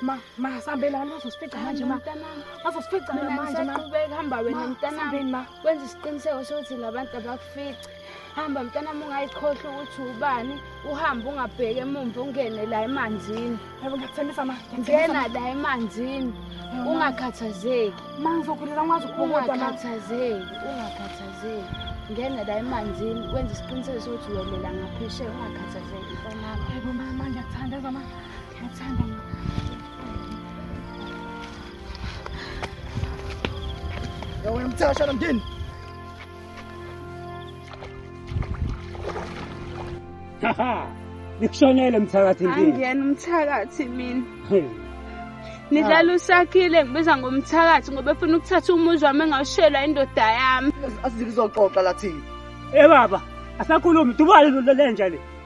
Ma, ma sambe la uzosifica manje ma. Uzosifica manje ma. Saqhubeka hamba wena mntanami ma. Kwenza isiqiniseko sokuthi labantu abakufici. Hamba mntanami ungayikhohlwa ukuthi ubani, uhambe ungabheki emumva ungene la emanzini. Yebo ngiyakuthembisa ma. Ngena la emanzini. Ungakhathazeki. Ma ngizokhulisa ngwazi ukubuka ma. Ungakhathazeki, ungakhathazeki. ngena la emanzini wenza isiqiniseko sokuthi welela ngaphesheya ungakhathazeki mfana wami yebo mama ngiyakuthanda zama Sasha na mjini. Nikushonele mthakathi ndini. Angiyena umthakathi mina. Nidlala usakhile ngibiza ngomthakathi ngoba efuna ukuthatha umuzi wami engawushelwa indoda yami. Asizizoxoxa lathi. Eh baba, asakhulumi dubale lenja le.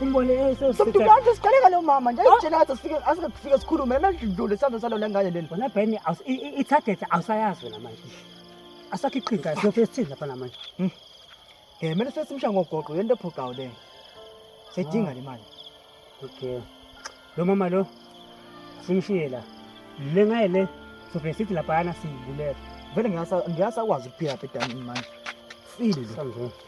umbone somntu manje siqaleka lo mama nje isitshela ngathi sifike asike kufike sikhulume manje idlule sandla salo lengane leni wena ben i target awusayazi wena manje asakho iqhinga siyofika sithini lapha namanje hmm. eh mele sesimsha ngogoqo yento ephoqayo le sedinga ah. le mali okay lo mama lo simshiye la le ngaye le sofike sithi laphayana siyibulele vele ngiyasakwazi ukuphila phedani manje file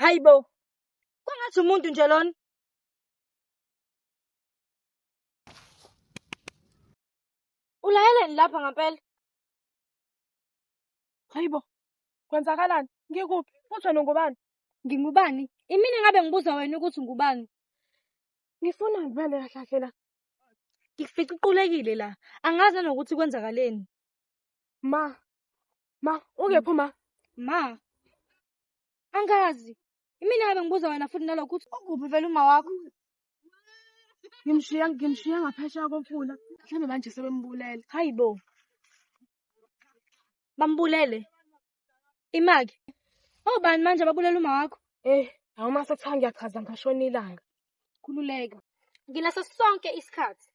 Hayibo. Kwangathi umuntu nje lona. Ulayeleni lapha ngampela. Hayibo. Kwenzakalani? Ngikuphi? Futhi wena ungubani? Ngingubani? Imina ngabe ngibuza wena ukuthi ngubani? Ngifuna ngibale kahle kahle la. Ngifica iqulekile la. Angazi nokuthi kwenzakaleni. Ma. Ma, ungephi ma? Ma. Angazi. Imina ngabe ngibuza wena futhi nalokho ukuthi ukuphi vele uma wakho? Ngimshiya ngimshiya ngaphesheya komfula. Mhlawumbe manje sebembulele. Hayibo. Bambulele. Imake. Obani manje ababulela uma wakho? Eh, awuma sekuthiwa ngiyachaza ngashona ilanga. Khululeka. Nginaso sonke isikhathi.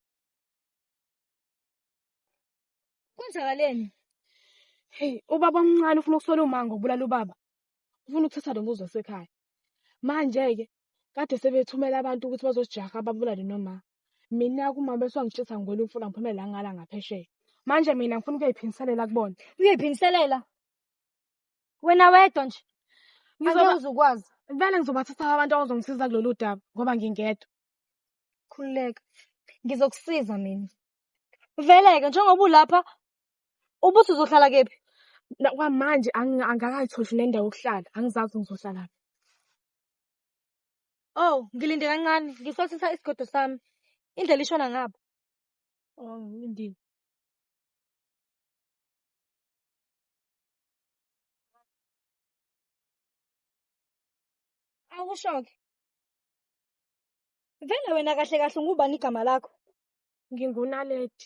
Kwenzakaleni? Hey, ubaba omncane ufuna ukusola umango ubulala ubaba. Ufuna ukuthatha lo muzi wasekhaya. Manje-ke kade sebethumela abantu ukuthi bazosijaha babulale noma. Mina kumama bese wangitshisa ngigwela umfula ngiphume la ngala ngaphesheya. Manje mina ngifuna ukuyiphindiselela kubona. Uyiphindiselela? Wena wedwa nje. Ngizokwazi Angeke ukwazi. Vele ngizobathatha abantu abazongisiza kulolu daba ngoba ngingedwa. Khululeka. Ngizokusiza mina. Vele-ke njengoba ulapha Ubuthi uzohlala kephi? Na- Kwamanje angi- angikakayitholi nendawo yokuhlala, angizazi ukuthi ngizohlala kuphi. Oh, ngilinde kancane, ngisosisa isigodo sami. Indlela ishona ngapha. Oh, ngilindile. Awusho-ke. Vele wena kahle kahle ungubani igama lakho? Ngingunaledi.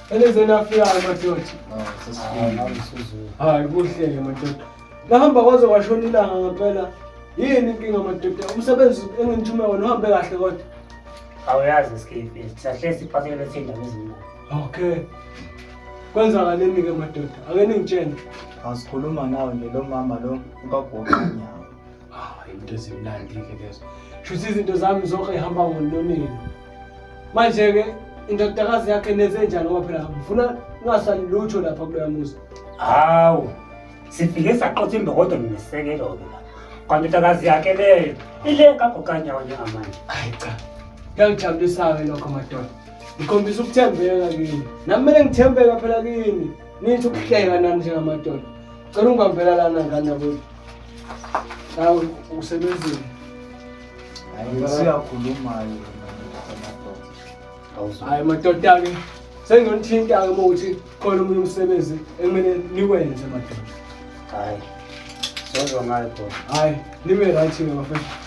Elizweni afika amadoda. Hayi kuhle-ke madoda. Nahamba kwaze kwashona ilanga ngempela. Yini inkinga madoda? Umsebenzi enginithume wona uhambe kahle kodwa. Awuyazi isikhifi. Sisahle siphakele thina ngezimali. Okay. Kwenzakaleni-ke madoda? Ake ningitshene. Asikhuluma nawe nje lo mama lo ukagoqa nyawo. Ah, into ezimnandi ke lezo. Shuthi izinto zami zonke ihamba ngononini. Manje ke indodakazi yakhe neze njani ngoba phela ngifuna kungasali lutho lapha kuloya muzi. Hawu. Sifike saqotha imbokodo nesekelo ke la. Kanti indodakazi yakhe leyo ile kagokanyawo njengamanje. Hayi cha. Kuyangijabulisa-ke lokho madoda. Ngikhombisa ukuthembeka kini. Nami kumele ngithembeka phela kini. Nithi ukuhleka nami njengamadoda. Cela ungibambela lana ngane yakwethu. Awu usebenzile. Hayi siyakhuluma hayi. Hayi madoda ke senginithinta ke ukuthi khona umunye umsebenzi ekumele niwenze madoda. Hayi. Sozwa ngayo bro. Hayi nibe right ke bafethu.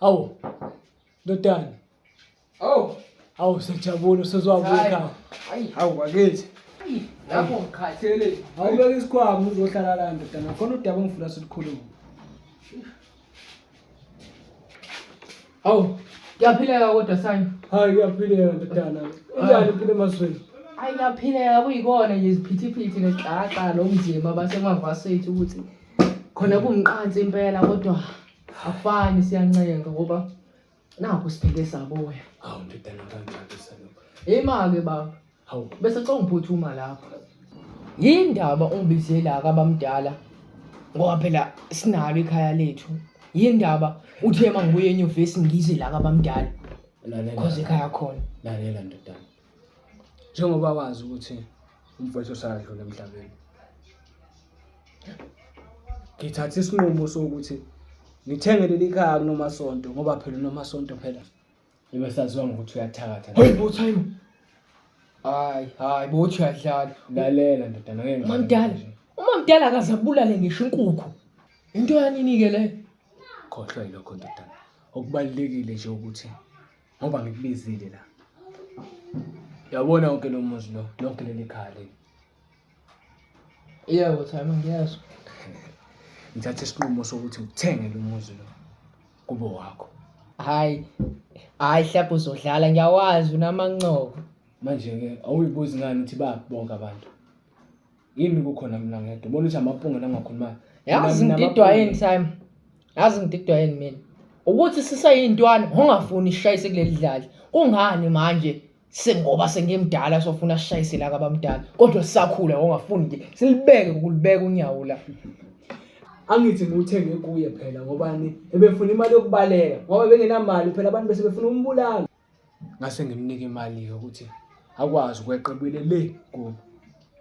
Hawu. Ndodana. Hawu. Hawu sejabule usezwabuka ekhaya. Hayi. Hawu bakithi. Lapho ngikhathele. Awubeke isikhwama uzohlala la ndodana. Khona udaba ongifuna silukhulume. Hawu, kuyaphileka kodwa sayo. Hayi kuyaphileka ndodana. Injani impilo emazweni? Hayi kuyaphileka kuyikona nje iziphithiphithi nexaxa nomzimba basemavasethi ukuthi khona kumqansi impela kodwa akufani siyancenga ngoba nakho siphele saboya. Hawu ndodana kanjani salokho. Imake baba. Hawu, bese xa ungiphuthuma lapho. Yini ndaba ungibizela akabamdala ngoba phela sinalo ikhaya lethu. Yini ndaba uthe uma ngibuye enyuvesi ngize la kabamdala cause ekhaya khona. Lalela ndodana. Njengoba wazi ukuthi umfowethu usadlula emhlabeni. Ngithathe isinqumo sokuthi ngithenge leli khaya kunomasonto ngoba phela unomasonto phela Ibe saziwa ngokuthi uyathakatha. Hey bo time. Hayi, hayi bo uthi uyadlala. Lalela ndodana ngeke. Mamdala. Uma mdala akazabulale ngisho inkukhu. Into yanini ke le? Khohlwa yilokho ndodana. Okubalekile nje ukuthi ngoba ngikubizile la. Yabona wonke lo muzi lo, lonke leli khaya leli. Yebo Thami ngiyazwa. Ngithathe isinqumo sokuthi ngithenge lo muzi lo kube wakho. Hayi. Hayi hlapha uzodlala ngiyawazi unamancobo. Manje ke awuyibuzi ngani ukuthi ba bonke abantu. Yini kukhona mina ngedwa. Ubona ukuthi amapunge langakhuluma. Yazi ngididwa yini Thami? Yazi ngididwa yini mina? Ukuthi sisayintwana ungafuni ishayise kuleli dlali. Kungani manje? sengoba sengimdala sofuna sishayise la kabamdala kodwa sisakhula ongafuni nje silibeke ukulibeka unyawo la angithi ngiwuthenge kuye phela ngobani ebefuna imali yokubaleka ngoba bengenamali phela abantu bese befuna umbulala ngase ngimnike imali-ke ukuthi akwazi ukweqebile le kubo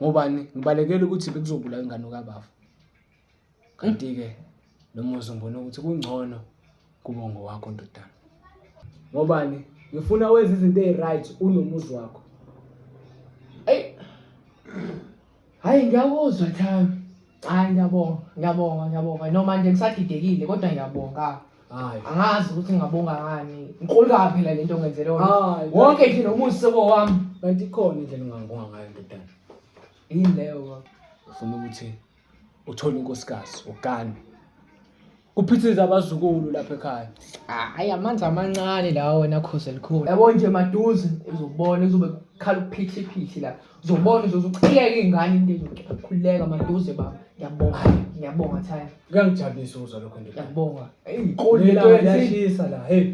ngobani ngibalekela ukuthi bekuzobulawa ingane kabafa Kanti-ke lo muzi ngibona ukuthi kungcono kube ngowakho ndodana. Ngobani? Ngifuna wenze izinto eziryt unomuzi wakho. Eyi hhayi ngiyakuzwa Thami. Hhayi ngiyabonga, ngiyabonga, ngiyabonga. Noma nje ngisadidekile kodwa ngiyabonga. Hhayi. Angazi ukuthi ngingabonga ngani. Inkulu kabi phela le nto ngenzele yona. Hhayi. Wonke nje lo muzi sekowami. Kanti ikhona indlela ongangibonga ngayo ndodana. Yini leyo baba? Ngifuna ukuthi uthole unkosikazi ugane kuphithiza abazukulu lapha ekhaya hayi amanzi amancane lawa wena khozi elikhulu yabo nje maduze uzobona uzobe khala ukuphithiphithi la uzobona uzoze uqhiyeke iy'ngane into ezokhululeka maduze baba ngiyabonga ngiyabonga thaya kuyangijabulisa ukuzwa lokho ndoda ngiyabonga Lento yashisa la hey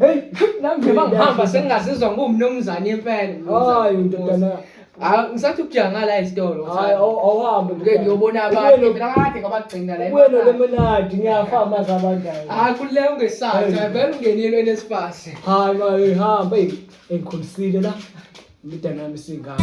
nami nje bangihamba sengingazizwa ngumnumzane impela hayi ndodana Ah, ngisathi ukujangala esitolo. Hayi aw- awuhambe Ngeke ngiyobona Ubuye abantu. no- Phela kade ngabagcina la. ubuye nolemonadi ngiyafa amazi abandayo Ah, kule ungesathi. Hey. Vele ungenile enesipasi. hayi mayihamba eyi engikhulisile la imidana yami isingaka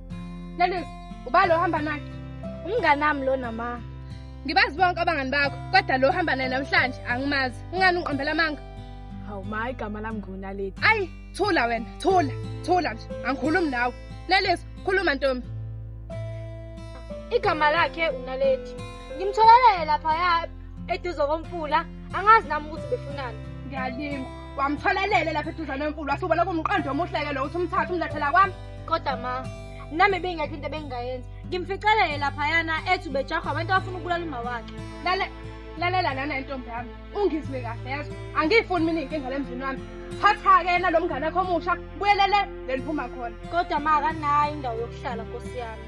Lelizwe, uba lo hamba naye. Umngane wami lona ma. Ngibazi bonke abangani bakho, kodwa lo hamba naye namhlanje angimazi. Ungani ungiqambela amanga? Hawu ma, igama lami nguNaledi. Ayi, thula wena, thula, thula nje. Angikhulumi nawe. Lelizwe, khuluma ntombi. Igama lakhe uNaledi. Ngimtholelele lapha ya eduze komfula. Angazi nami ukuthi befunani. Ngiyalinga. Wamtholelele lapha eduzane wemfulu wasubona kumqondo omuhle-ke lo uthi umthathe umlethela kwami. kodwa ma nami bengekho into ebengingayenza ngimficelele laphayana ethi ubejahwa abantu abafuna ukubulala uma wakhe lale lalela lana intombi yami ungizwe kahle yazo angiyifuni mina inkinga lemzini wami thatha-ke yena lo mngane akho omusha buyelele le liphuma khona kodwa ma akanayo indawo yokuhlala nkosi yami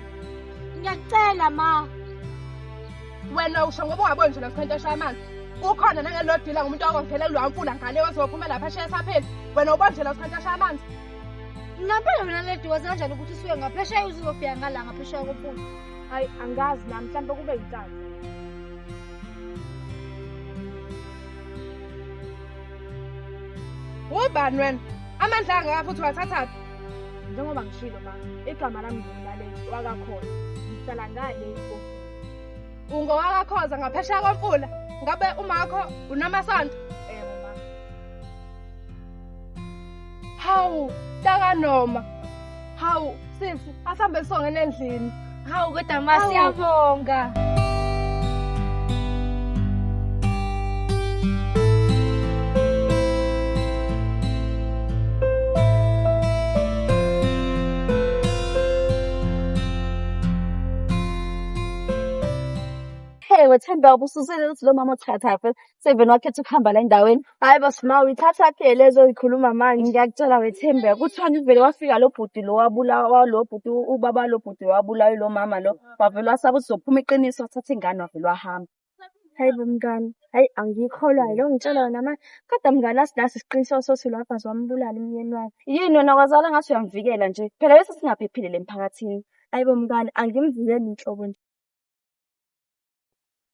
ngiyakucela ma wena usho ngoba ungaboni nje lomkhwente oshaya amanzi ukhona nangelodila ngumuntu wakho ngithele kulwa mfula ngane wazophuma lapha ashiya sapheli wena ubonjela usikhathi ashaya amanzi ngampela wena ledi wazi kanjani ukuthi usuke ngaphesheya uzizofika ngala ngaphesheya kophula hayi angazi nami mhlawumbe kube yinkazi ubani wena amandla angaka futhi wathathaphi njengoba ngishilo ma igama lami ngumlaleli wakakhona ngihlala ngale ungowakakhoza ngaphesheya komfula ngabe umakho unamasonto Hawu, taka noma. Hawu, sisi, asambe songena endlini. Hawu kodwa ma Hawu. siyabonga. Hey wethemba ubususele ukuthi lo mama uthatha phela Seven wakhetha ukuhamba la endaweni. Hayi bo Sma uyithatha ke lezo oyikhuluma manje. Ngiyakutshela wethembe kuthiwani uvele wafika lo bhuti lo wabulawa walo bhuti u- ubaba lo bhuti wabulawa lo mama lo. Wavele wasaba ukuthi zophuma iqiniso wathatha ingane wavele wahamba. Hayi bo mngani. Hayi angiyikholwayo lo ngitshela yona manje. Kodwa mngani asinaso isiqiniseko sothi lo abhazi wambulala umyeni wakhe. Yini wena kwazala ngathi uyamvikela nje. Phela bese singaphephile le mphakathini. Hayi bo mngani angimvikeli nhlobo nje.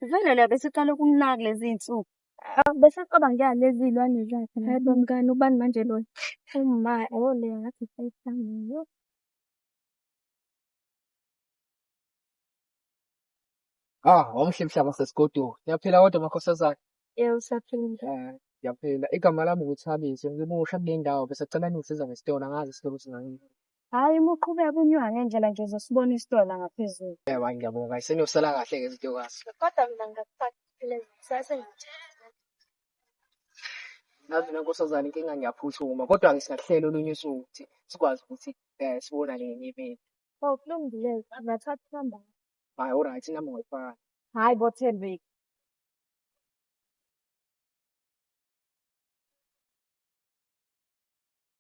Vele la besiqala ukumnaka lezi iy'nsuku. Awu bese acabanga ya lezi iy'lwane zakhe. Hayi bo mngani ubani manje lona? Uma oh le ngathi sayihlangiwe. Ah, wamuhle mhlaba sesigodweni. Ngiyaphila kodwa makhosazana. Yebo saphila. Ah, ngiyaphila. Igama lami nguThabiso. Ngimusha kule ndawo bese cela ningisiza ngesitolo angazi isitolo singangeni. Hayi uma uqhubeka unyuka ngendlela nje uzosibona isitolo la ngaphezulu. Yebo hayi ngiyabonga isenyusela kahle ke izinto kwazi. Kodwa mina ngingakufaka iphelele kusase ngithi. Nazi mina nkosazane inkinga ngiyaphuthuma kodwa ke singakuhlela olunye usuku ukuthi sikwazi ukuthi eh sibonane ngenye imini. Oh kulungile ngathatha inamba. Hayi alright inamba ngoyifaka. Hayi bo Thembeki.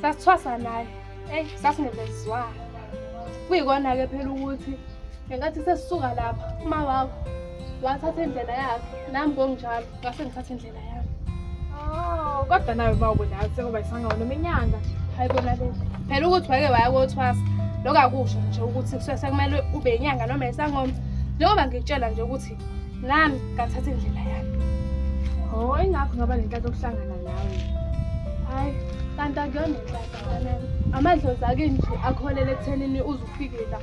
sasithwasa naye eyi sasingevezizwana kuyikona-ke phela ukuthi ngenkathi sesisuka lapha uma wakho wathatha indlela yakhe nami konginjalo ngase ngithatha indlela yami oh, kodwa nayo uma ubudala sekuba yisangawo noma inyanga hayi kona le phela ukuthi wake waya kothwasa lokho akusho nje ukuthi kusuke sekumele ube inyanga noma isangoma njengoba ngikutshela nje ukuthi nami ngathatha indlela yami ho oh, ingakho ngaba nenhlanhla okuhlangana nawe hayi kanti akuyona inhlanhla amadlozi ake nje akholele ekuthenini uze ufike la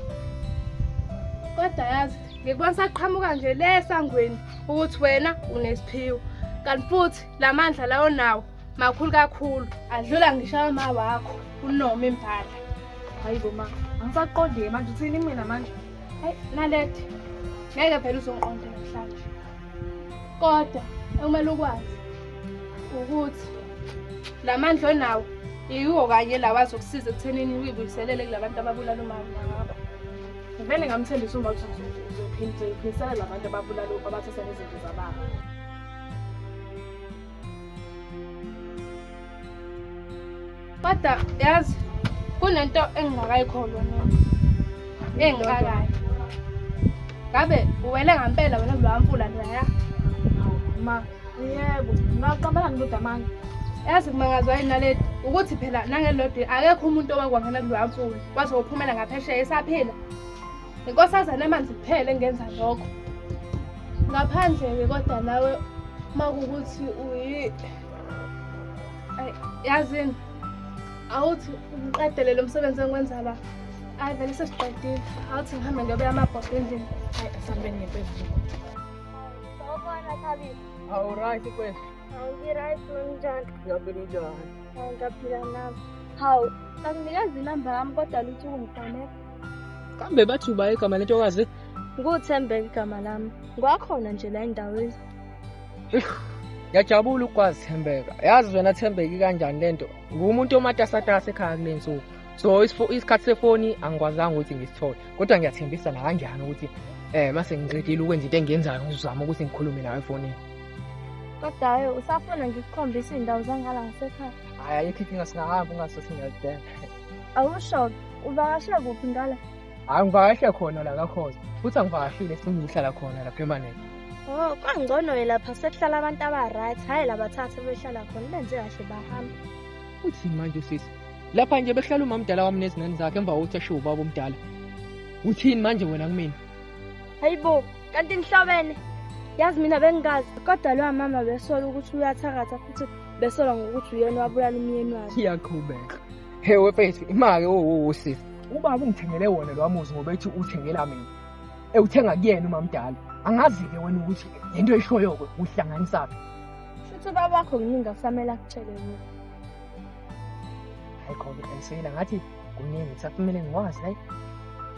kodwa yazi ngikubona saqhamuka nje le sangweni ukuthi wena unesiphiwo kanti futhi la mandla lawo nawo makhulu kakhulu adlula ngisho ama wakho unoma imbala hayi bo ma angisaqondile manje uthini mina manje Hayi Naledi, ngeke vele uzongiqonda namhlanje. Kodwa ekumele ukwazi ukuthi la mandla onawo yiwo kanye lawa azokusiza ekuthenini uyibuyiselele kulabantu ababulala umama ngabo. Ngivele ngamthembisa uma ukuthi uzophindisela labantu ababulala abathatha nezinto zababa. Kodwa yazi kunento engingakayikholwa mina. Engikakayo. Ngabe uwele ngampela wena kulowa mfula loya. Ma, yebo. Ngaqambana ndoda manje. Yazi kumangazwa yini naledi ukuthi phela nangelodi akekho umuntu owakwangena kulowa mfula. Waze wophumela ngaphesheya esaphila. Inkosazana amanzi kuphela engenza lokho. Ngaphandle-ke kodwa nawe uma kuwukuthi uyi yazini awuthi ngiqedele lo msebenzi engiwenza la hayi vele sesiqedile awuthi ngihambe ngiyobeya amabhodo endlini hayi asihambeni ngempezulu sawubona thabile awuright kwethu awungiright unjani ngiyaphila unjani ngiyaphila nami hawu anginikeza inamba yami kodwa luthi ungifonela kambe bathi uba igama lentokazi nguthembe igama lami ngwakhona nje la endaweni Ngiyajabula ukwazi Thembeka. Yazi wena Thembeki kanjani lento? Ngumuntu omatasatasa ekhaya kule nsuku. So isikhathi sefoni angikwazanga ukuthi ngisithole. Kodwa ngiyathembisa na kanjani ukuthi eh mase ngiqedile ukwenza into engiyenzayo ngizama ukuthi ngikhulume nawe efonini. Kodwa hayi usafuna ngikukhombisa indawo zangala ngasekhaya. Hayi ayikho inkinga singahamba ungasothi ngiyazidela. Awusho uvakashe kuphi ngala? Hayi ngivakashe khona la kakhoza. Futhi angivakashile sengihlala khona la permanent. Oh, kwangcono ke lapha sekuhlala abantu abaright, hhayi labathathu behlala khona benze kahle bahamba. Uthini manje usisi? Lapha nje behlala umamdala wami nezingane zakhe emva kokuthi ashiwo ubaba omdala. Uthini manje wena kumina? Hayibo, kanti nihlobene. Yazi mina bengingazi kodwa lowa mama besola ukuthi uyathakatha futhi besola ngokuthi uyena wabulala umyeni wakhe. Iyaqhubeka. He wefethu imake wowo sisi. Ubaba ungithengele wona lo muzi ngoba ethi uthengela mina. Ewuthenga kuyena umamdala. Angazi-ke wena ukuthi le nto eshoyoko uhlanganisaphi. Shuthi ubaba wakho kuningi akusamele akutshele mina. Hayi khona ayiseyela ngathi kuningi kusakumele ngiwazi hayi.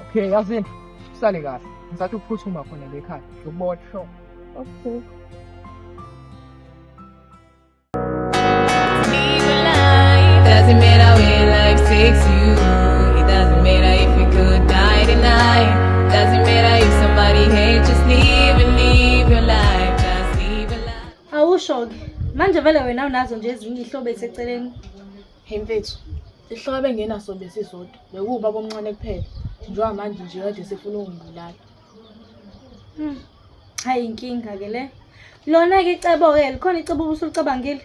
Okay yazini usale kahle. Ngisathi uphuthuma khona le khaya. Ngibona sho. Okay. Awusho-ke manje vele wena unazo nje ezinye ihlobo eseceleni Hey mfethu, ihlobo engenaso besizodwa bekuwubaba omncane kuphela. Njengoba manje nje kade sefuna ukungibulala. Hmm. Hayi inkinga ke le. Lona ke icebo ke likhona icebo ubusulicabangile.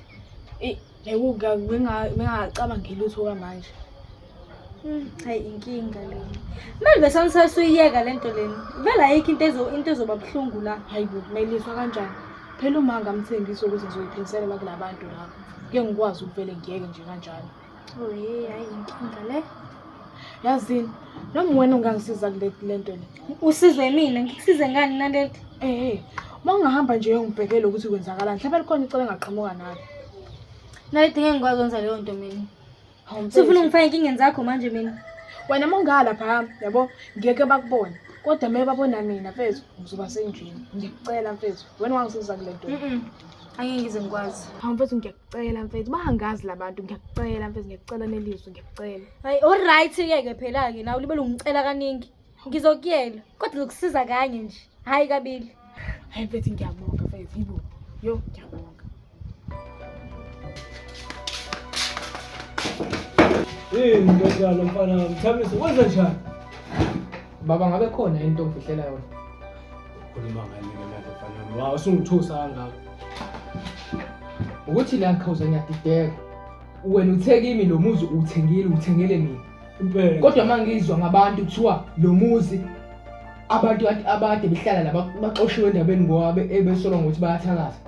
Eh, ekuka benga bengacabangile lutho kamanje. Hmm, hayi inkinga le. Mali besanisasa uyiyeka lento leni. Vela ayikho into ezo into ezoba buhlungu la. Hayi bo, meliswa kanjani? Phela uma ngamthembisa ukuthi ngizoyiphilisela kulabantu laba. Ke ngikwazi ukuvele ngiyeke nje kanjalo. Oh hey, hayi inkinga le. Yazini, noma wena ungangisiza kule le nto le. Usize mina, ngikusize ngani Naledi? Eh hey, uma ungahamba nje uyongibhekela ukuthi kwenzakalani. Mhlawumbe likhona icebo engaqhamuka nalo. Naledi ngeke ngikwazi ukwenza leyo nto mina. Hawu mfethu. Sifuna ungifake enkingeni zakho manje mina. Wena uma ungalapha hamba, yabo ngeke bakubone. Kodwa uma babona mina mfethu, ngizoba senjini. Ngiyacela mfethu, wena ungangisiza kule nto. Mm. Angeke ngize ngikwazi. Hawu mfethu ngiyacela. ngiyakucela mfethu bangazi labantu ngiyakucela mfethu ngiyakucela nelizwe ngiyakucela hayi alright ke ke phela ke nawe libe lungicela kaningi ngizokuyela kodwa lokusiza kanye nje hayi kabili hayi mfethu ngiyabonga mfethu yibo yo ngiyabonga Hey, ndoda lo mfana, mthamisa, wenza njani? Baba ngabe khona into ofihlela yona. Ukhuluma ngani ke manje mfana wami? Wa usungithusa kangaka. Ukuthi la khawuza ngiyadideka. Wena uthe kimi lo muzi uwuthengile, uwuthengele mina. Impela. Kodwa mangizwa ngabantu kuthiwa lo muzi abantu ade- abade behlala laba baxoshiwe endabeni ngoba be- ebesolwa ngokuthi bayathakaza.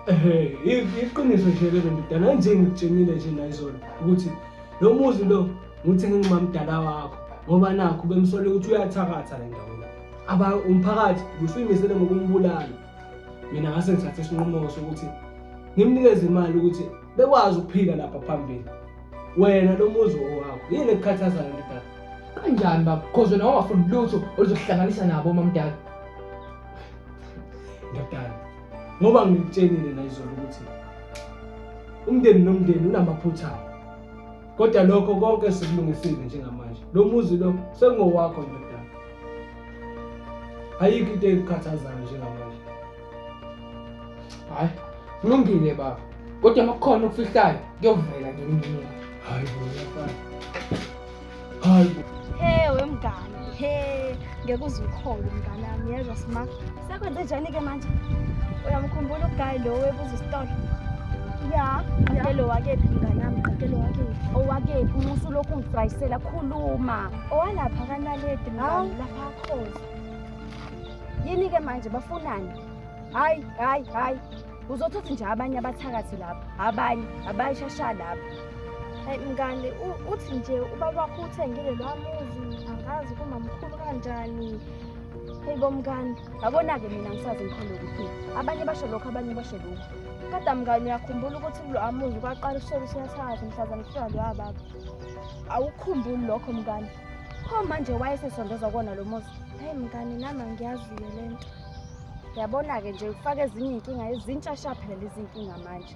Ehhe, i- iqiniso nje lelo ndodana anjengikutshengile nje nayizolo ukuthi lo muzi lo Ngithi ngingumamdala wakho ngoba nakho bemsole ukuthi uyathakatha la ndaweni. Aba umphakathi usuyimisele ngokumbulala. Mina ngase ngithathe isinqumo sokuthi ngimnikeze imali ukuthi bekwazi ukuphila lapha phambili. Wena lo muzi owakho yini ekukhathazayo ndodana? Kanjani baba? Cause wena wawafuni lutho oluzohlanganisa nabo mamdala. Ndodana, ngoba ngikutshenile la izolo ukuthi umndeni nomndeni unamaphutha. kodwa lokho konke sikulungisile njengamanje lo muzi lo sengowakho ndodana ayikho into ekukhathazayo njengamanje hayi kulungile baba kodwa uma kukhona okufihlayo kuyovela nje kumina hayi bo hayi bo hey wemngane he ngeke uze ukhole mngane wami yezwa sma sekwenze njani ke manje uyamkhumbula uguy lo webuza isitolo ya qakelo wakephi mngane wami qakelo wakephi owakephi umusu lokhu ungidwayisela khuluma owalapha kanaledi mngane lapha akhoza yini ke manje bafunani hayi hayi hayi uzothothi nje abanye abathakathi lapha abanye abayishasha lapha Hayi mngani uthi nje ubaba wakho uthengile lwa muzi angazi kumamkhulu kanjani. Hayi bomngani, yabona-ke mina ngisazi ngikhona ukuthi abanye basho lokho abanye basho lokho. Kodwa mngani uyakhumbula ukuthi kulo amuzi kwaqala ushela usiyasazi mhlazane kufika lo ababa. Awukhumbuli lokho mngani. Pho manje wayesesondezwa kona lo muzi. Hayi mngani nami angiyaziyo le nto. Yabona-ke nje ufake ezinye iy'nkinga ezintsha shaphela izinkinga manje.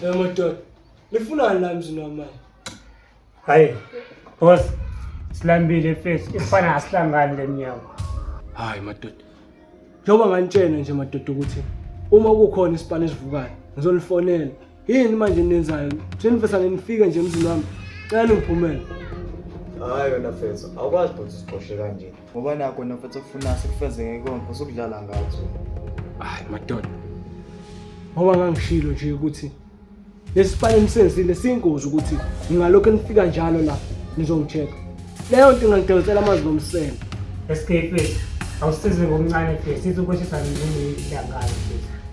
Hey madoda, nifunani la mzini wamanje? Hayi, boss, silambile face, ifana asihlangani le mnyango. Hayi madoda. Njengoba nganitshena nje madoda ukuthi uma kukhona isipani esivukayo, ngizonifonela. Yini manje nenzayo? Senifesa nifike nje emzini wami. Cela ningiphumele. Hayi wena face, awukwazi bhuti siqoshe kanje. ngoba nakho nofethu ofuna sikufezeke konke usukudlala ngathi hayi madoda ngoba ngangishilo nje ukuthi lesipani enisenzile siyingozi ukuthi ngingalokhu nifika njalo la nizongitsheka leyo nto ingangidonsela amanzi ngomsele escape awusize ngokuncane futhi sithi ukwehlisa nini ilangayo futhi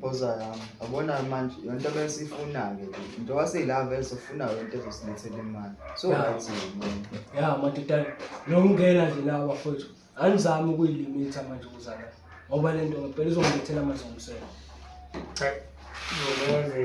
Boza yami, yabona manje yonto abesifuna-ke le. Into waseyilava ezofuna yonto ezosilethela imali. So Ya. right yini? ya madodana nokungena nje nawo bafowethu anizami ukuyilimitha manje ukuzana ngoba le nto ngempela izongilethela amazingomsela Cha, ngokwenze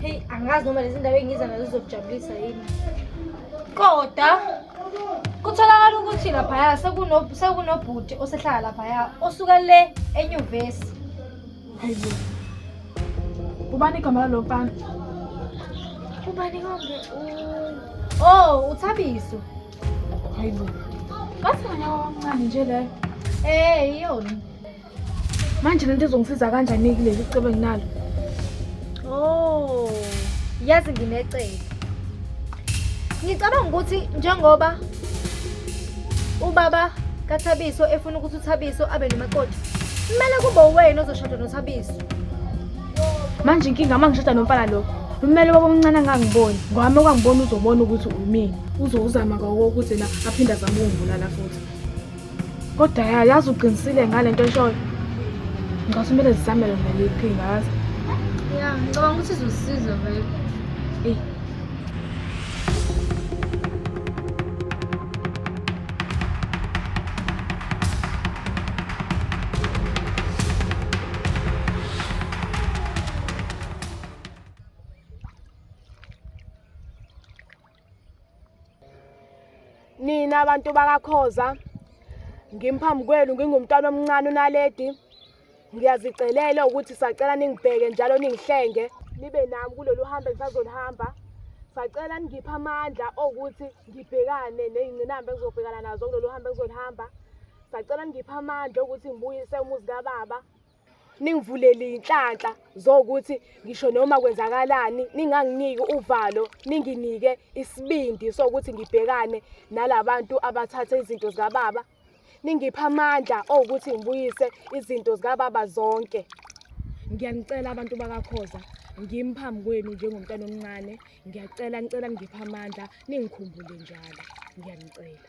Hey, angazi noma lezi ndawo engiza nazo zizokujabulisa yini. Kodwa kutholakala ukuthi laphaya sekuno sekunobhuti osehlala laphaya osuka le enyuvesi. Hayibo. Ubani igama lalo mfana? Ubani konke? Oh, uThabiso. Hayibo. Basi ngonyaka omncane nje leyo. Eh, iyona. manje lento izongisiza kanjani kuleli cebo enginalo oh yazi nginecebo ngicabanga ukuthi njengoba ubaba kathabiso efuna ukuthi uthabiso abe nomakoti kumele kube uwena ozoshada nothabiso manje inkinga uma ngishada nomfana lokho kumele baba omncane angangiboni ngwami okwangibona uzobona ukuthi umini uzowuzama kawo ukuthi na aphinde azame ukungibulala futhi kodwa ya yazi uqinisile ngale nto eshoyo ngicabanga kumele zizamele vele iqhinga yazi ya ngicabanga ukuthi izosiza vele eyi nina abantu bakakhoza ngimphambi kwenu ngingumntwana omncane unaledi ngiyazicelela ukuthi sacela ningibheke njalo ningihlenge nibe nami kulolu hambe ngisazoluhamba sacela ningiphe amandla okuthi ngibhekane ney'ngqinamba engizobhekana nazo kulolu hambe engizoluhamba sacela ningiphe amandla okuthi ngibuyise umuzi kababa ningivulele inhlanhla zokuthi ngisho noma kwenzakalani ninganginiki uvalo ninginike isibindi sokuthi ngibhekane nalabantu abathatha izinto zikababa ningipha amandla okuthi ngibuyise izinto zikababa zonke ngiyanicela abantu bakakhoza ngimi phambi kwenu njengomntana omncane ngiyacela ngicela ngipha amandla ningikhumbule njalo ngiyanicela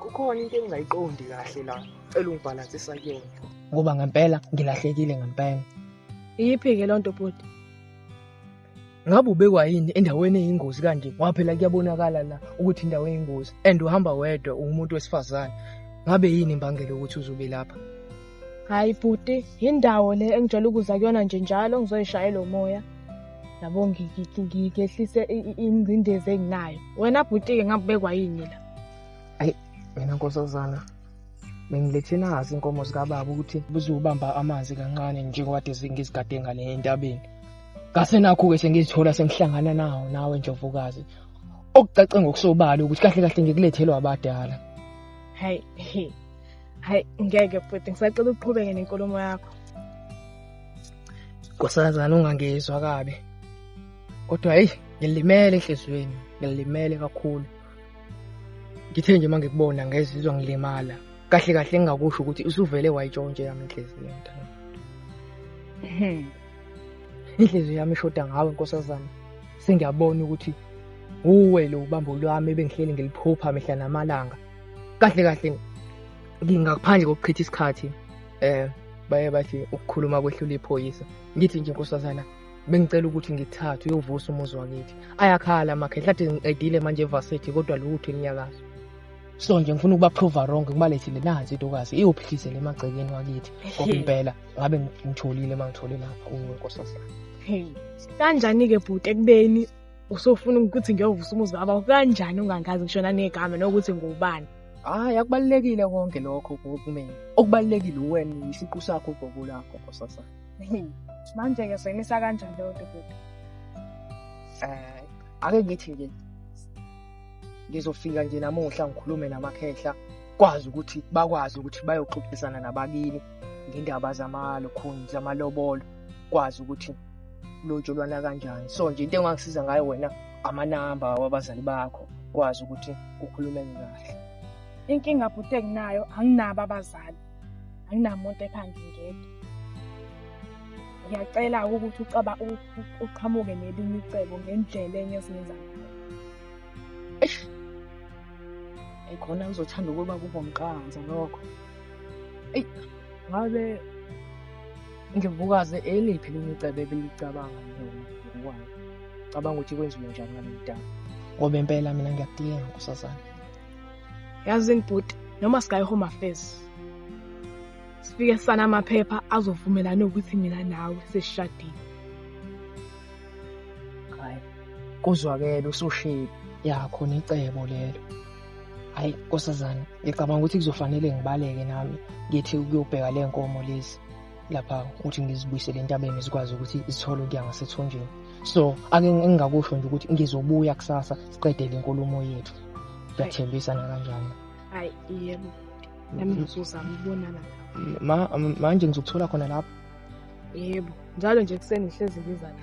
kukhona into engingayiqondi kahle la cela ungibhalansisa kuyona ngoba ngempela ngilahlekile ngempela iyiphi-ke loo nto bhuti ngabe ubekwa yini endaweni eyingozi kanje ngoba phela kuyabonakala la ukuthi indawo eyingozi and uhamba wedwa uwumuntu wesifazane ngabe yini imbangela ukuthi uzube lapha hhayi bhuti yindawo le engijwayele ukuza kuyona nje njalo ngizoyishayela umoya yabo ngiyehlise ingcindezi enginayo wena bhuti-ke ngabekwa yini la ayi mina nkosazana bengilethe nazi inkomo zikababa ukuthi buzobamba amanzi kancane njengoba ngizigade ngale entabeni ngase nakho-ke sengizithola sengihlangana nawo nawe njovukazi okucace ngokusobala ukuthi kahle kahle ngikulethelwa abadala hayi hayi ngeke futhi ngisacela uqhubeke nenkulumo yakho nkosazana ungangizwa kabi kodwa heyi ngilimele enhliziyweni ngilimele kakhulu ngithe nje uma ngikubona ngezizwa ngilimala kahle kahle engingakusho ukuthi usuvele wayitshontshe yami inhliziyo mntana hmm. inhliziyo yami ishoda ngawe nkosazana sengiyabona ukuthi uwe lo ubambo lwami ebengihleli ngiliphupha mihla namalanga kahle kahle ngingaphandle kokuchitha isikhathi eh baye bathi ukukhuluma kwehlula iphoyisa ngithi nje nkosazana bengicela ukuthi ngithathe uyovusa umuzi wakithi ayakhala amakhehla athi ngiqedile manje evarsity kodwa lutho inyakazo so nje ngifuna ukuba prove wrong kubalethile nansi intokazi iyophikisele emagcekeni wakithi ngoba impela ngabe ngitholile uma ngithole lapha unkosazana kanjani-ke bhuti ekubeni usofuna ukuthi ngiyovusa umuzi baba kanjani ungangazi ngishona negama nokuthi ngubani Hhayi, akubalulekile konke lokho kumina. Okubalulekile uwena yisiqu sakho ubhoko lakho nkosasa. Manje-ke soyimisa kanjani leyo nto kuthi? Eh, ake ngithi nje ngizofika nje namuhla ngikhulume namakhehla kwazi ukuthi bakwazi ukuthi bayoxoxisana nabakini ngendaba zamalokhuni zamalobolo kwazi ukuthi lotsholwana kanjani so nje into engangisiza ngayo wena amanamba wabazali bakho kwazi ukuthi ukhulumeke kahle inkinga bhuti enginayo anginabo abazali anginamuntu ekhanda ngedwa ngiyacela ukuthi ucaba uqhamuke nelinye icebo ngendlela enye esingenza ngayo ekhona ngizothanda ukuba kube umqanza lokho eyi ngabe ngibukaze eliphi elinye icebo ebelicabanga ngokwayo cabanga ukuthi kwenziwe njani ngalo mdala ngoba impela mina ngiyakudinga nkosazana yazi ngibhuti noma sikayi home affairs sifike sana amaphepha azovumelana ukuthi mina nawe sesishadile hayi kuzwakele usushile yakho necebo lelo hayi nkosazana ngicabanga ukuthi kuzofanele ngibaleke nami ngithi ukuyobheka le nkomo lezi lapha ukuthi ngizibuyisele entabeni zikwazi ukuthi zithole ukuya ngasethunjini so ake engingakusho nje ukuthi ngizobuya kusasa siqede le nkulumo yethu ngiyathembisa nakanjani hayi yebo nami ngizozama ukubonana ma manje ngizokuthola khona lapho yebo njalo nje kuseni ngihlezi ngiza la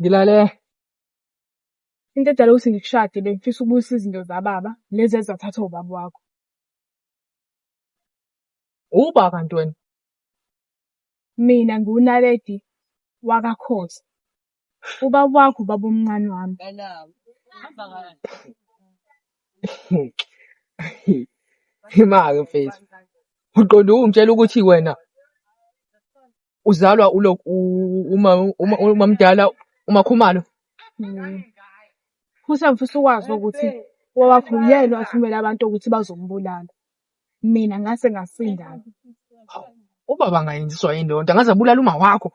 Ngilale. Into edala ukuthi ngikushade bengifisa ukubuyisa izinto zababa lezi ezathathwa ubaba wakho. Uba kanti wena. Mina ngiwunaledi wakaKhoza. Ubaba wakho ubaba omncane wami. Imake mfethu. Uqonde ungitshela ukuthi wena uzalwa ulo u- uma uma uma mdala umakhumalo. Mm. Futhi angifisa ukwazi ukuthi wawakho uyena wathumela abantu ukuthi bazombulala. Mina ngase ngasindana. Ubaba angayenziswa yini leyo nto? Angaze abulala uma wakho.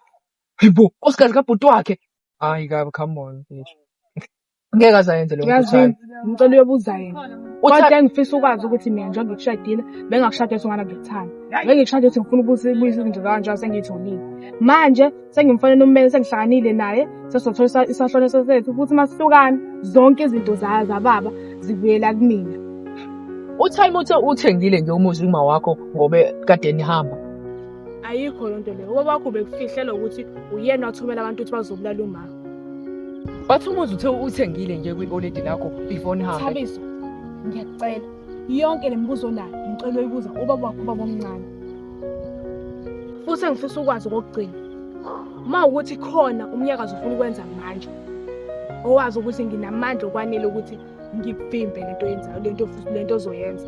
Hayi bo, osikazi kabhuti wakhe. Hayi kabi, come on bitch. Ngeke azayenze leyo nto Yazi uThandi. ngicela uyobuza yena. Uthandi Kodwa engifisa ukwazi ukuthi mina njengoba ngikushadile bengakushada ukuthi ungana ngikuthanda. Bengikushada ukuthi ngifuna ukubuza ibuyisa izinto zami njengoba sengiyitholile. Manje sengimfanele ummeli sengihlanganyile naye sesizothola isa- isahlone sethu futhi uma sihlukana zonke izinto za- zababa zibuyela kumina. uThandi uthe uthengile nje umuzi uma wakho ngobe kade nihamba. ayikho loo nto leyo ubaba wakho bekufihlela ukuthi uyena wathumela abantu ukuthi bazobulala umama wathi umuzi uthe uthengile nje kwi-oledi lakho before nihambe thabiso ngiyakucela yonke le mibuzo onayo ngicela uyibuza ubaba wakho ubaba omncane futhi engifisa ukwazi okokugcina uma ukuthi khona umnyakazi ufuna ukwenza manje owazi ukuthi nginamandla okwanele ukuthi ngikuvimbe lento yenzayo lento lento ozoyenza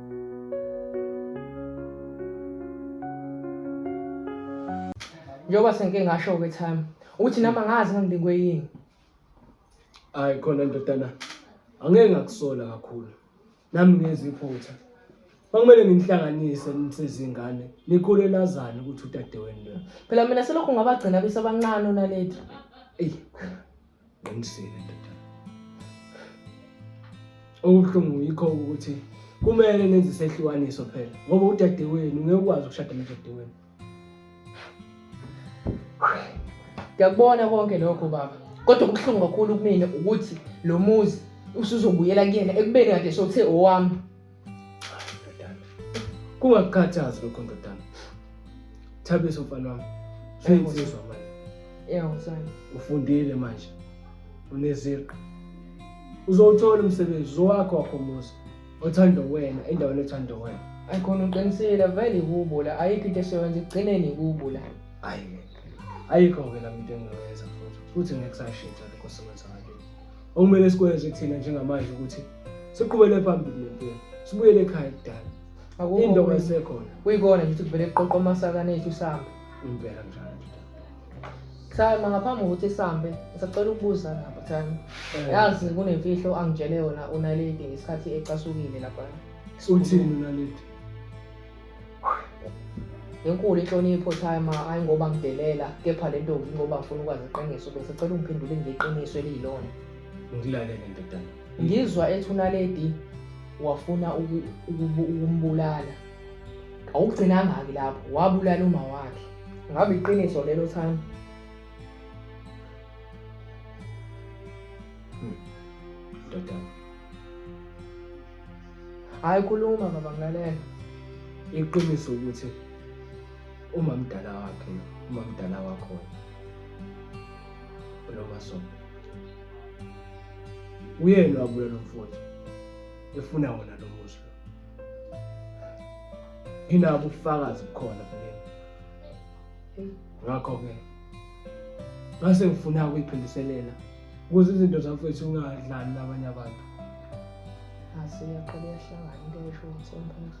njengoba sengike ngasho-ke time ukuthi nami angazi ngangilingwe yini hayi khona ndodana angeke ngakusola kakhulu nami ngezwa iphutha kwakumele nginihlanganise nisezingane nikhule lazane ukuthi udadewenu lona phela mina selokhu ngabagcina besabancane onaledi eyi Qinisile ndoda. Okuhlungu yikho ukuthi kumele nenze isehlukaniso phela ngoba udadewenu ngeke ukwazi ukushada nodadewenu. Ngiyakubona konke lokho baba. Kodwa okuhlungu kakhulu kumina ukuthi lo muzi usuzobuyela kuyena ekubeni kade sothe owami. Ndodana. Kungakukhathazi lokho ndodana. Thabiso mfana wami. Sengizizwa manje. Yeah, mfana. Ufundile manje. Uneziqu. Uzowuthola umsebenzi zowakho wakho muzi. Othanda wena endaweni ethanda wena. Ayikhona uqinisile vele kubo la ayikho into esebenza ekugcineni kubo la. Ayikho ke la into engiyoyenza futhi futhi ngeke kusashintsha lokho osebenza ngakini. Okumele sikwenze thina njengamanje ukuthi siqhubele phambili nempilo. Sibuyele ekhaya kudala. Akukho Into kuyi- esekhona. kuyikona nje ukuthi kuvele kuqoqwa amasakane ethu sihambe Impela njalo. sama ngaphambi kokuthi sihambe ngisacela ukubuza lapha thani Eh, yazi kunemfihlo angitshele yona unaledi ngesikhathi ecasukile laphana Uthini unaledi? Inkulu inhlonipho time hayi ngoba ngidelela kepha le ntombi ngoba ngifuna ukwazi iqiniso bese cela ungiphendule ngeqiniso eliyilona. Ngilalele ndodana. Ngizwa ethi unaledi wafuna ukumbulala. Awugcinanga-ke lapho wabulala uma wakhe. Ngabe iqiniso lelo thami? Hayi khuluma baba ngilalela. Iqiniso ukuthi uma mdala wakhe uma mdala wakho lo masondo uyena wabuya lo mfowethu efuna wona lo muzi lo inabo ubufakazi bukhona kulena ngakho-ke ngase ngifuna ukuyiphindiselela Kuze izinto zafethu ungadlali nabanye abantu. Asiyaqala iyahlangana into esho umthemphela.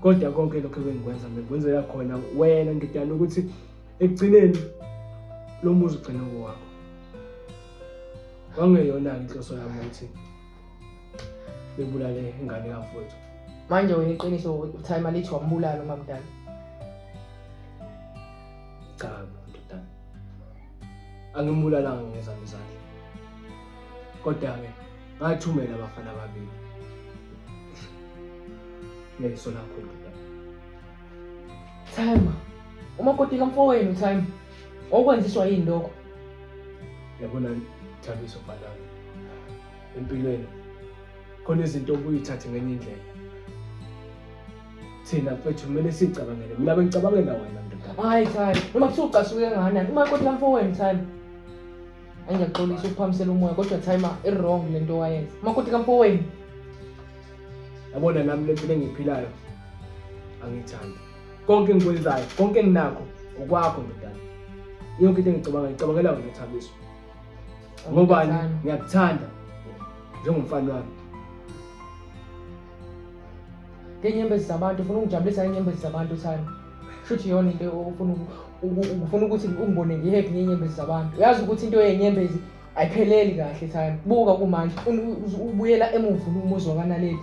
Kodwa konke lokho ebengikwenza ngikwenzela khona wena ngidana ukuthi ekugcineni lo muzi ugcine kowakho. Kwangeyona-ke inhloso yami ukuthi bebulale ingane yafowethu. Manje wena iqiniso uthayima lithi wambulala umamdala. Cha. angimbulalanga ngezami izandla kodwa-ke ngathumela abafana ababili neso lakho ndoda Thema, umakoti kamfowenu Thema, okwenziswa yini lokho? yabona thabiso bhalana empilweni khona izinto obuyithathe ngenye indlela thina mfethu kumele sicabangele mina bengicabangela wena ndoda hayi thani noma kuthiwa ucasuke nganani uma kodwa mfowenu thani angiyaxolisa ukuphamisela umoya kodwa thayima i-wrong le nto wayenza uma kodwa kamfowenu yabona nami le mpilo engiyiphilayo angiyithandi konke engikwenzayo konke enginakho okwakho ndodana yonke into engicabanga ngicabangela wena thabiso ngobani ngiyakuthanda njengomfana wami ngenyembezi zabantu ufuna ungijabulisa ngenyembezi zabantu uthando shuthi yona into ufuna ufuna ukuthi ungibone ngihappy ngenyembezi zabantu uyazi ukuthi into yenyembezi ayipheleli kahle thando buka kumanje ubuyela emuva umuzi wakanaleli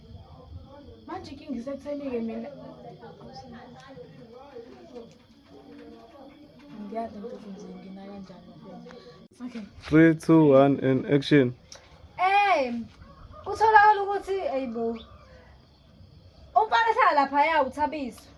manje inkinga isekutheni-ke mina ngiyazi ukuthi nje ngina kanjani okay three two one and action hey kutholakala ukuthi ayibo umfana ehlala laphaya uthabiswa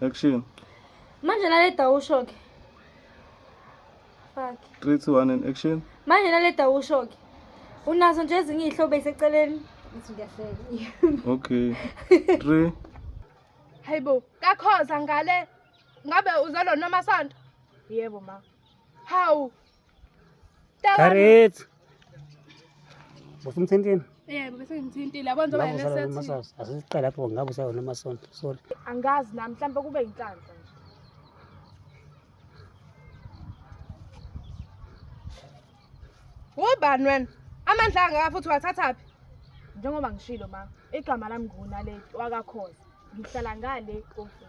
Action. Manje naleda usho ke. Fuck. 3 2 1 and action. Manje naleda usho ke. Unazo nje ezinye izihlobo eseceleni. Ngithi ngiyahleka. Okay. 3 Hayibo, kakhoza ngale. Ngabe uzalo noma sonto? Yebo ma. Hawu, Karet. Bofu mthintini. Yebo bese ngimthintile yabona njengoba yena sethi. Asiqale lapho ngabe usayona amasonto. Sorry. Angazi nami mhlawumbe kube inhlanhla. Ubani wena? Amandla angaka futhi wathathaphi? Njengoba ngishilo ma, igama lami nguNaledi wakakhoza. Ngihlala ngale komfula.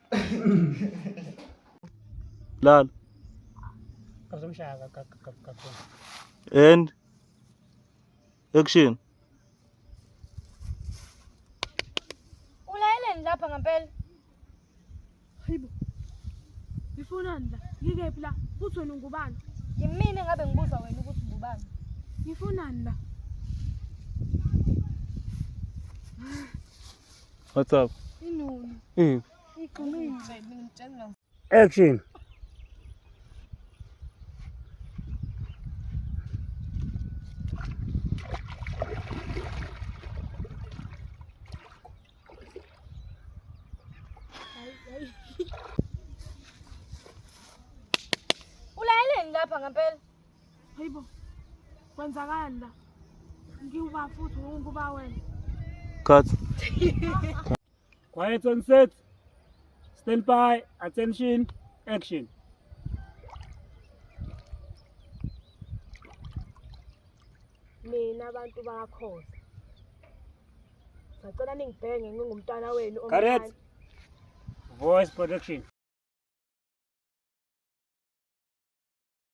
Lala. Kazomshaya kakhulu. And action. Ulayeleni lapha ngempela. Hayibo. Ngifunani la? Ngikephi la? Futhi wena ungubani? Yimina ngabe ngibuza wena ukuthi ngubani. Ngifunani la? What's up? Mm. Action. Ulayeleni lapha ngempela. Hayibo. Kwenzakani la? Ngiwuba futhi unguba wena. Cut. Quiet on set. Stand by. Attention. Action. Nina abantu bakhoza. Sacela ningibhenge ngingumntana wenu omncane. Correct. Voice production.